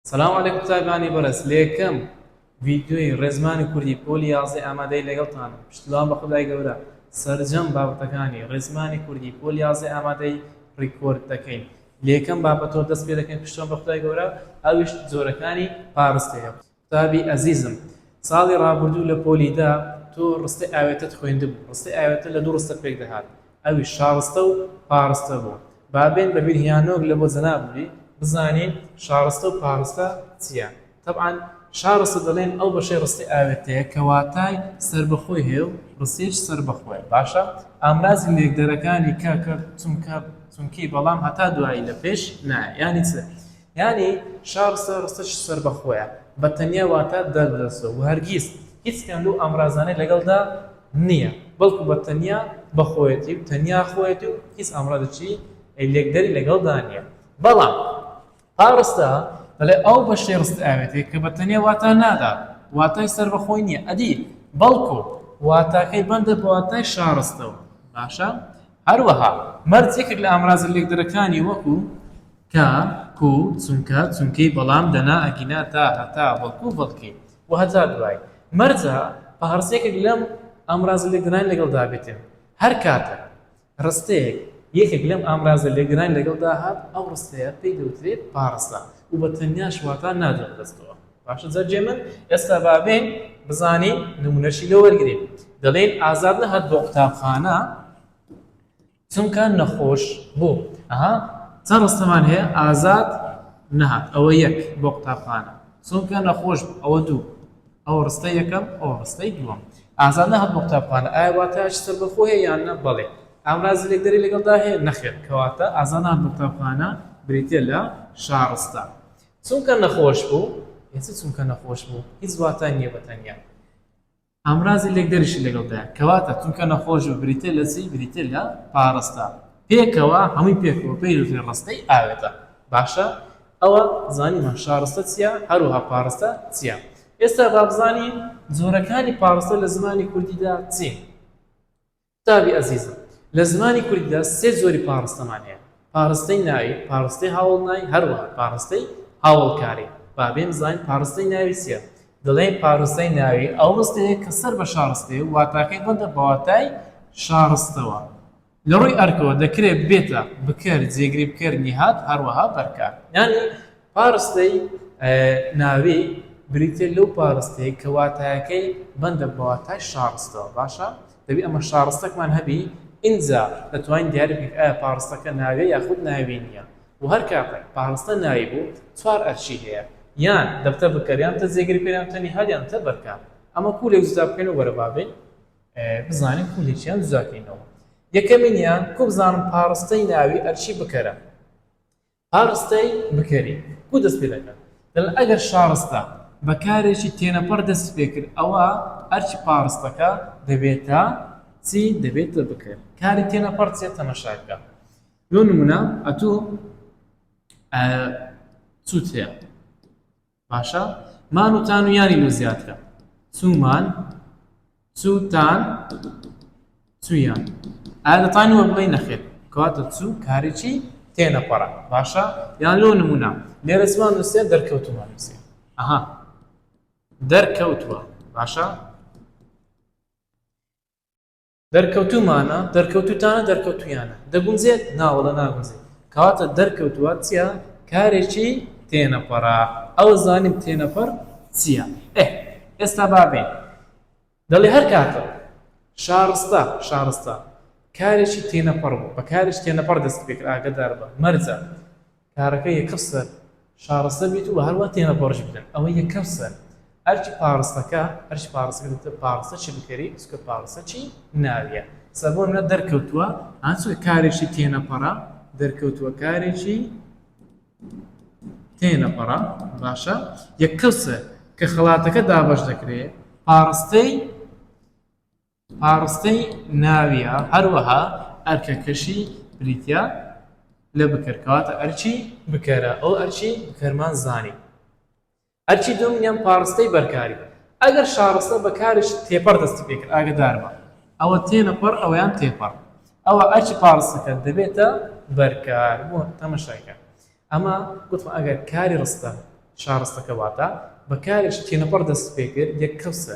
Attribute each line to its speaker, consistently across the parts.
Speaker 1: سلام علیکم تایبانی بەرز لێکەم ڤیدیۆی ڕێزمانی کوردی پۆلی یازدە ئامادەی لەگەڵتان پشتوان بە خدای گەورە سەرجەم بابەتەکانی ڕێزمانی کوردی پۆلی یازدە ئامادەی ڕیکۆرد دەکەین لێکەم بابەتۆ دەست پێ دەکەین پشتوان بە خدای گەورە ئەویش جۆرەکانی پارستەیە قوتابی ئەزیزم ساڵی ڕابردوو لە پۆلی دە تۆ ڕستەی ئاوێتەت خوێندبوو ڕستەی ئاوێتە لە دوو ڕستە پێک دەهات ئەویش شاڕستە و پاڕستە بوو با بێن بە بیرهیانۆک لە بۆ جەنابی بزانین شاڕستە و پاڕستە چیە تەبعەن شاڕستە دەڵێن ئەو بەشەی ڕستەی ئاوێتەیە کە واتای سەربەخۆی هەیە و ڕستەیش سەربەخۆیە باشە ئامرازی لێکدەرەکانی کە کە چونکە چونکی بەڵام هەتا دوایی لە پێش نایە یانی چ یانی شا ڕستە ڕستەکی سەربەخۆیە بە تەنیا واتە دەردەسە و هەرگیز هیچ کام لەو ئامرازانەی لەگەڵدا نییە بەڵکو بە تەنیا بە خۆیەتی و تەنیا خۆیەتی و هیچ ئامرازێکی لێکدەری لەگەڵدا نییە بەڵام ئا ڕستە دەڵێ ئەو بەشی ڕست ئاوێتێک کە بە تەنیا واتا نادا واتای سەربەخۆی نییە ئەدی بەڵکو واتاکەی بەندە بە واتای شارستەوە باشە هەروەها مەرجێکێک لە ئامرازە لێکدەرەکانی وەکو کا، کو، چونکە، چونکەی، بەڵام، دەنا، ئەگینا، تا، هەتا، بەڵکو، بەڵکی، و هەتا دوایی. مەرجە پهڕسێکێک لەم ئامرازە لێکدانانە لەگەڵدا بێتێ. هەر کاتێک ڕستەیەک یەکێک لەم ئامرازە لێکدانانە لەگەڵدا هات، ئەو ڕستەیە پێی دەوترێت پاڕستە و بە تەنیاش واتا نادرێتە دەستەوە. باشە جا جێ من ئێستا با بێین بزانین نموونەشی لێ وەرگرین. دەڵێین ئازاد نەهات بۆ قوتابخانە. چونکە نەخۆش بووم ئەها چەند ڕستەمان هەیە ئازاد نەهات ئەوە یەک بۆ قوتابخانە چونکە نەخۆش بوو ئەوە دوو ئەو ڕستە یەکەم ئەو ڕستەی دووەم ئازاد نەهات بۆ قوتابخانە ئایا واتایش سەربەخۆ هەیە یان نە بەڵێ ئامرازی لێکدەری لەگەڵدا هەیە نەخێر کەواتە ئازاد نەهات بۆ قوتابخانە بریتییە لە شاڕستە چونکە نەخۆش بوو ئێستا چونکە نەخۆش بوو هیچ واتای نییە بە تەنیا ئامرازی لێکدەریشی لەگەڵدایە، کەواتە چونکە نەخۆشبوو بریتیە لە چی؟ بریتیە لە پاڕستە پێکەوە، هەمووی پێکەوە پێیوترێ ڕستەی ئاوێتە، باشە ئەوە زانیمان شاڕستە چیە هەروەها پاڕستە چیە، ئێستا بابزانین جۆرەکانی پاڕستە لە زمانی کوردیدا چین؟ قوتابی ئەزیزم لە زمانی کوردیدا سێ جۆری پاڕستەمان هەیە، پاڕستەی ناوی، پاڕستەی هاوەڵناوی هەروەها پاڕستەی هاوەڵکاری، با بێمزاین پاڕستەی ناوی چیە؟ دەڵێین پاڕستەی ناوی ئەو ڕستەیە کە سەر بە شاڕستەیە و واتاکەی بەندە بە واتای شاڕستەوە. لە ڕووی ئەرکەوە دەکرێت ببێتە، بکەر، جێگری بکەر، نیهاد، هەروەها بەرکار. یانی پاڕستەی ناوی بریتیە لەو پاڕستەیە کە واتایەکەی بەندە بە واتای شاڕستەوە باشە دەبی ئەمە شاڕستەکمان هەبی ئینجا دەتوانین دیاری بکەین ئایا پاڕستەکە ناوێ یاخود ناوی نییە و هەر کاتێک پاڕستە ناوی بوو چوار ئەرکی هەیە یان دەبتە بکەر یان تە جێگری پێ یان تەنیهاد یان تە بەرکان ئەمە کوولێک جودا بکەین و وەرە با بین بزانین کوولێکیان جودا بکەینەوە یەکەمینیان کو بزانم پاڕستەی ناوی ئەرکی بکەرە شارستەی بکەری کوو دەست پێ دەکات؟ دەڵێت ئەگەر شارستە بە کارێکی تێنەپەڕ دەستی پێ کرد ئەوا ئەرکی پاڕستەکە دەبێتە چی؟ دەبێتە بکەر. کاری تێنەپەڕ چییە؟ تەماشا بکە. بۆ نموونە ئەتوو سووت هەیە باشە مان و تان و یانی لۆ زیاترە چومان چو تان چویان ئایا دەتانی وە بڵێ نەخێت کەواتە چو کارێکی تێنەپەڕە باشە یان لۆ نمونە لێرە چمان نووسێت دەرکەوتمان نووسێ ئەها دەرکەوتووە باشە دەرکەوتوومانە، دەرکەوتووتانە، دەرکەوتوویانە. دەگونجێت؟ ناوەڵڵا ناگونجێت. کەواتە دەرکەوتووە چییە؟ کارێکی تێنەپەڕە. ئەوە زانیم تێنەپەڕ چییە. ئێ ئێستا با بێین. دەڵێ هەر کاتە. شارستە، شارستە. کارێکی تێنەپەڕ بوو. بە کارێکی تێنەپەڕ دەستی پێ کرد. ئاگەدار بە. مەرجە. کارەکە یەکەم سەر شارەستە بیت و هەروا تێنەپەڕژی بکەن ئەوە یەکەم سەر ئەرکی پاڕستەکە ئەرش پاڕستەکە دکتۆر پاڕستە چی بکەری سکە پاڕستە چی ناویە سەربۆ منە دەرکەوتووە هەچ کارێکی تێنەپەڕە دەرکەوتووە کارێکی تێنەپەڕە باشە یەکەم سەر کە خڵاتەکە دابش دەکرێت پاڕستەی پاڕستەی ناویە هەروەها ئەرکەکەشی بریتیە لە بکەر کەواتە ئەرکی بکەرە ئەو ئەرکی بکەرمان زانی ئەرکی دووەمینیان پاڕستەی بەرکاری ئەگەر شاڕستە بە کارێکی تێپەڕ دەستی پێکرد ئاگەداربە ئەوە تێنەپەڕ ئەوەیان تێپەڕ ئەوە ئەرکی پاڕستەکە دەبێتە بەرکار بۆ تەمەشایکە ئەمە گوتم ئەگەر کاری ڕستە شاڕستەکە واتە بە کارێکی تێنەپەڕ دەست پێکرد یەک کەسە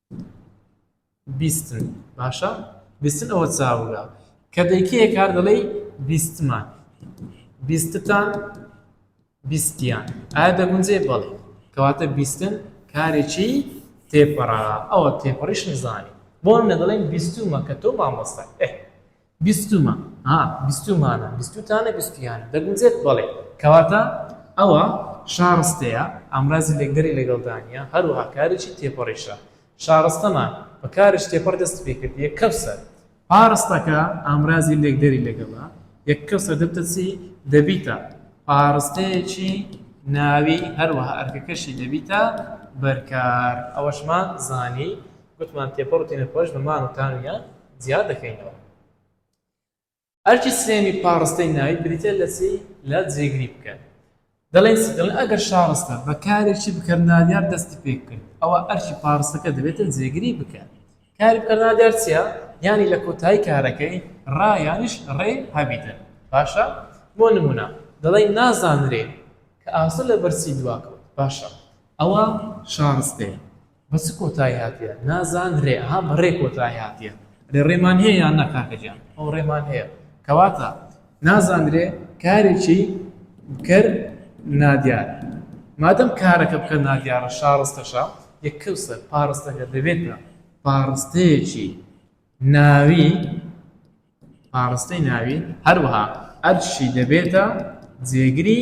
Speaker 1: بیستن باشە بیستن ئەوە چاوگە کە دەیکەیە کار دەڵێ بیستمان بیستتان بیستیان ئایا دەگونجێ بەڵێ کەواتە بیستن کارێکی تێپەڕا ئەوە تێپەڕیش نزانی بۆم نە دەڵێن بیستومە کە تۆ مامۆستا بیستوومە، ها، بیستوومانە، بیستووتانە، بیستوویانە، دەگونجێت؟ بەڵێ. کەواتە ئەوە شارستەیە، ئامرازی لێکدەری لەگەڵدا نییە، هەروەها کارێکی تێپەڕیشە. شارستەمان بە کارێکی تێپەڕ دەستی پێ کرد، یەککەوسەر. پارستەکە ئامرازی لێکدەری لەگەڵە، یەککەوسەر دەبتە چی؟ دەبیتە پارستەیەکی ناوی، هەروەها ئەرکەکەشی دەبیتە بەرکار. ئەوەشمان زانی. گوتمان تێپەڕ و تێنەپەڕیش بە مان و تامیان جیا دەکەینەوە. ئەرکی سێیەمی پاڕستەی ناوی بریتیە لە چی؟ لە جێگری بکەر. دەڵێن چی؟ دەڵێن ئەگەر شاڕستە بە کارێکی بکەر نادیار دەستی پێ کرد، ئەوا ئەرکی پاڕستەکە دەبێتە جێگری بکەر. کاری بکەر نادیار چیە؟ یانی لە کۆتایی کارەکەی ڕا یانیش ڕێ هەبیتن. باشە؟ بۆ نموونە دەڵێین نازانرێ کە ئاسۆ لە بەر چی دوا کەوت. باشە ئەوە شاڕستەیە. بە چ کۆتای هاتیە نازان رێ ها بە رێ کۆتای هاتیە رێ رێمان هەیە یان ناکاکە جان ئەو رێمان هەیە کەواتە نازانرێ کارێکی کەر نادیار مادەم کارەکە بکە نادیارە شارستەشە یەککەوسە پارستەکە دەبێتە پارستەیەکی ناوی پارستەی ناوی هەروەها ئەرشی دەبێتە جێگری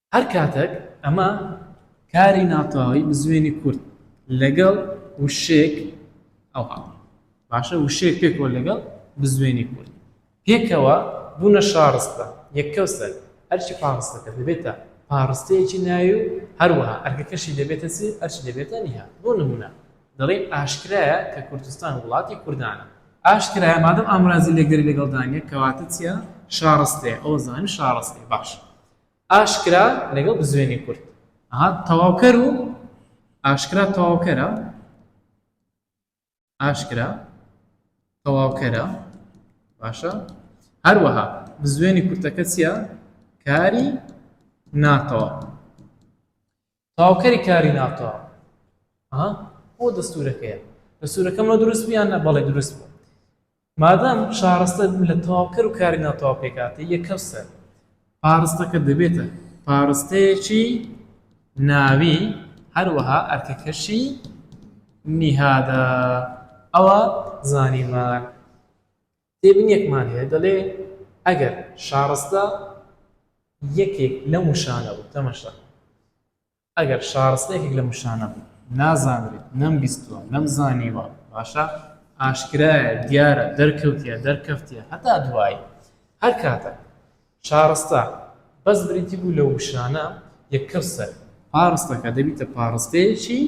Speaker 1: هەر کاتەک ئەمە کاری ناتەواوی بزوێنی کورد لەگەڵ وشەیەک ئەوها باشە وشەیەک پێکەوە لەگەڵ بزوێنی کورد پێکەوە بوونە شارستە یەکەوسەر ئەرچی پاڕستەکە دەبێتە پاڕستەیەکی ناوی و هەروەها ئەرکەکەشی دەبێتە چی ئەرچی دەبێتە نیها بۆ نمونە دەڵێن ئاشکرایە کە کوردستان وڵاتی کوردانە ئاشکرایە مادەم ئامرازی لەگەری لەگەڵدانە کەواتە چیە شارستێ ئەو زانی شارستێ باش ئاشکرا لەگەڵ بزوێنی کورت. ئەها تەواوکەر و ئاشکرا تەواوکەرە ئاشکرا تەواوکەرە باشە هەروەها بزوێنی کورتەکە چییە کاری ناتەواو تەواوکەری کاری ناتەواو. ئەها بۆ دەستورەکەیە دەستورەکەم لۆ دروست بوو یان نە بەڵێ دروست بوو مادام شارستە لە تەواوکەر و کاری ناتەواو پێکاتێ یەکەم سەر پارستەکە دەبێتە پارستەیەکی ناوی هەروەها ئەرکەکەشی نیهادە ئەوە زانیمان تێبینیەکمان هەیە دەڵێ ئەگەر شارستە یەکێک لەم وشانە بوو تەمەشا ئەگەر شارستە یەکێک لەم وشانە بوو نازانرێت نەمبیستووە نەمزانیوە باشە ئاشکرایە دیارە دەرکەوتە دەرکەفتە هەتا دوایی هەر کاتە شارستە، بەس بریتی بوو لە وشانە، یەکەوسەر، پاڕستەکە دەبیتە پاڕستەیەکی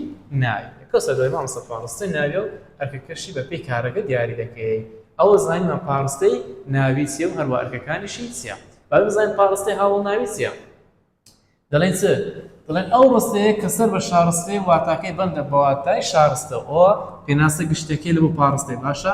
Speaker 1: ناوی، یەکەوسەر دەڵێی مامۆستا پاڕستەی ناویە و ئەرکەکەشی بە پێی کارەکە دیاری دەکەیەی، ئەوە زانیمان پاڕستەی ناوی چیە و هەروە ئەرکەکانیشی چیە، با بزانین پاڕستەی هاوەڵناوی چیە؟ دەڵێن چ؟ دەڵێن ئەو ڕستەیە کە سەر بە شارستەیە و واتاکەی بەندە بە واتای شارستە، ئەوە پێناسە گشتیەکەی لە بۆ پاڕستەی، باشە؟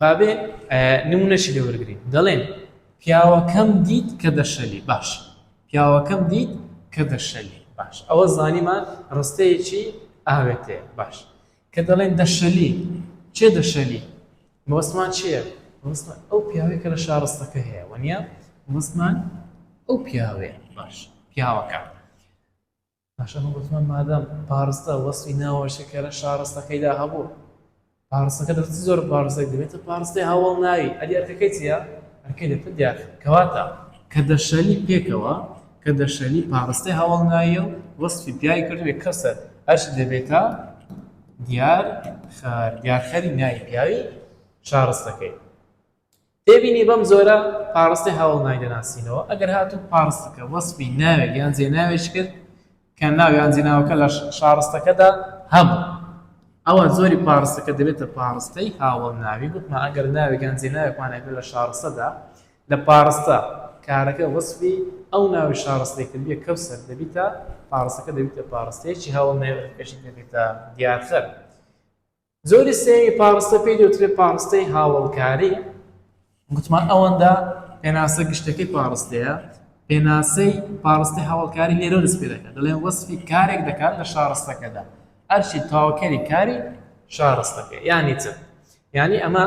Speaker 1: بابێ نمونەشی لێ وەرگین دەڵێن پیاوەکەم دیت کە دەشەلی باش پیاوەکەم دیت کە دەشەلی باش ئەوە زانیمان ڕستەیەکی ئاوێتێ باش کە دەڵێن دەشەلی چێ دەشەلی مۆسمان چییە مۆسمان ئەو پیاوەی کە لە شارستەکە هەیە وەنیە مۆسمان ئەو پیاوێ باش پیاوەکە پاشان من گوتمان مادام پاڕستە وەسفی ناوە شەکەرە شاڕستەکەی دا هەبوو پاڕستەکە دەبێت چ جۆر پاڕستەک دەبێتە پاڕستەی هاوەڵناوی ئەدی ئەرکەکەی چییە ئەرکەی دەبێت دیار کەواتە کە دەشەلی پێکەوە کە دەشەلی پاڕستەی هاوەڵناییە و وەسفی پیاوی کردوێ کەسەر ئەرش دەبێتە دیار خەر دیارخەری ناوی پیاوی شارستەکەی تێبینی، بەم جۆرە پاڕستێ هاوەڵ ناوی دەناسینەوە، ئەگەر هاتوو پاڕستەکە وەسفی ناوێک یان جێناوێک کرد کە ناو یان جێناوەکە لە شاڕستەکەدا هەبوو، ئەوا جۆری پاڕستەکە دەبێتە پاڕستەی هاوەڵ ناوی، گوتمان ئەگەر ناوێک یان جێناوێکمان هەبێت لە شاڕستەدا لە پاڕستە کارەکە وەسفی ئەو ناوی شاڕستەی کردبێت کەو سەر دەبیتە پاڕستەکە دەبیتە پاڕستەیەکی هاوەڵ ناوی ئەگەر پێشت نەبێتە دیارخەر. جۆری سێیەمی پاڕستە پێی دەوترێت پاڕستەی هاوەڵکاری، گوتمان ئەوەندە پێناسە گشتەکەی پاڕستەیە، پێناسەی پاڕستەی هاوەڵکاری لێرەوە دەست پێ دەکات، دەڵێن وەسفی کارێک دەکات لە شاڕستەکەدا، ئەرکی تەواوکەری کاری شاڕستەکە، یانی چ؟ یانی ئەمە.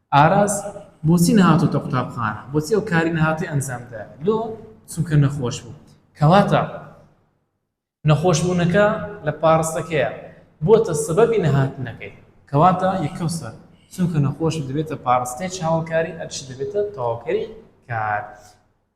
Speaker 1: ئاراس بۆچی نەهاتۆتە قوتابخانە بۆچی ئەو کاری نەهاتۆی ئەنجامدا لۆ چونکە نەخۆش بوو کەواتە نەخۆش بوونەکە لە پاڕستەکەیە بۆتە سەبەبی نەهاتنەکەی کەواتە یەکەوسەر چونکە نەخۆش دەبێتە پاڕستەی چاوەکاری ئەرش دەبێتە تەواوکەری کار.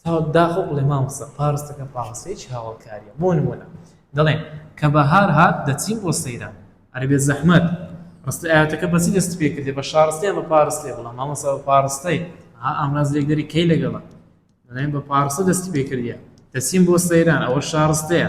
Speaker 1: ساڵ داخۆ بڵێ مامۆستا پاڕستەکە پاڕستەی چ هاوەڵکاریە بۆ نمونە دەڵێن کە بەهار هات دەچین بۆ سەیران ئەرێ بێ زەحمەت ڕستە ئاواتەکە بەچی دەست پێ کردێ بە شاڕستە یان بە پاڕستێ بڵام مامۆستا بە پاڕستەی ها ئامراز لێک دەری کەی لەگەڵە دەڵێن بە پاڕستە دەستی پێ کردیە دەچین بۆ سەیران ئەوە شاڕستەیە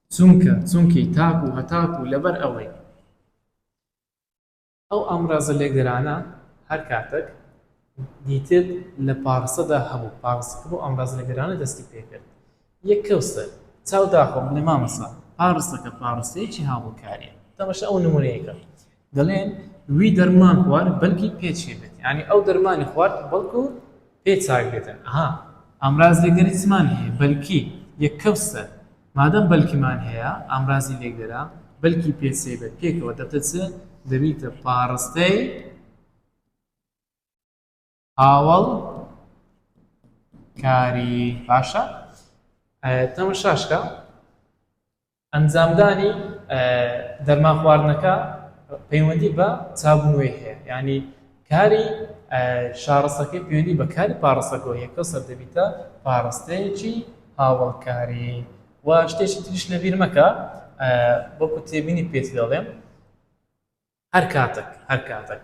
Speaker 1: چونکە، چونکی، تاک و هەتاک و لەبەر ئەوەی. ئەو ئامرازە لێکدەرانە هەر کاتەک دیتت لە پاڕسەدا هەبوو، پاڕسەکە بەو ئامرازە لێکدەرانە دەستی پێ کرد. یەک کەوسەر، چاو داخۆ بڵێ مامۆستا پاڕسەکە پاڕسەیەکی هاوبەکارییە. تەماشای ئەو نموونەیە کە. دەڵێن وی دەرمان خوارد بەلکی پێ چێ بێت یانی ئەو دەرمانی خوارد بەڵکو پێ چاک بێتن ئەها ئامراز لێکدەری چمان هەیە بەلکی یەک کەوسە مادەم بەلکیمان هەیە ئامرازی لێکدەرە بەلکی پێ چێ بێت پێکەوە دەبتە چ دەبیتە پاڕستەی هاوڵ کاری باشە تەمەشاشکە ئەنجامدانی دەرمان خواردنەکە پەیوەندی بە چابوونەوەی هەیە ینی کاری شارستەکەی پێوەندی بە کاری پاڕستەکە یەکە سەر دەبیتە پاڕستەیەکی هاوڵکاری و شتێکی تریش لە بیر مەکە بۆکو تێبینی پێت دەڵێم هەر کاتێک هەر کاتێک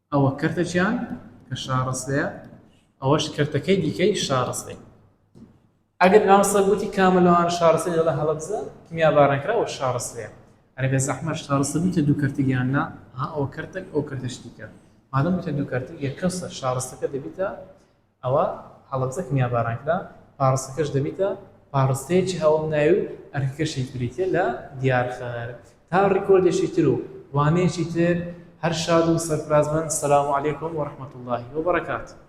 Speaker 1: ئەوە کەرتەکیان کە شاڕەسێە ئەوەش کەرتەکەی دیکەی شاڕەسێ ئەگەر مام سەگ گوتی کامە لەوانە شاڕەسێ دەڵێ هەڵەبزە کیمیاباران کرا ئەوە شاڕەسێە ئەرێ بێ زەحمەت شاڕەسە بوتە دوو کەرتک یان نا ها ئەوە کەرتەک ئەو کەرتەش دیکە مادەم بوتە دوو کەرتک یەکەم سەر شاڕەسەکە دەبیتە ئەوا هەڵەبجە کە میانباران کرا، پاڕستەکەش دەبیتە پاڕستەیەکی هەوەڵناوی و ئەرکەکەشی بریتیە لە دیارخەر تا ڕیکۆردێکی تر و وانەیەکی تر هەر شاد و سەرفرازبن سلام علیکم و رحمت اللە و برکاته.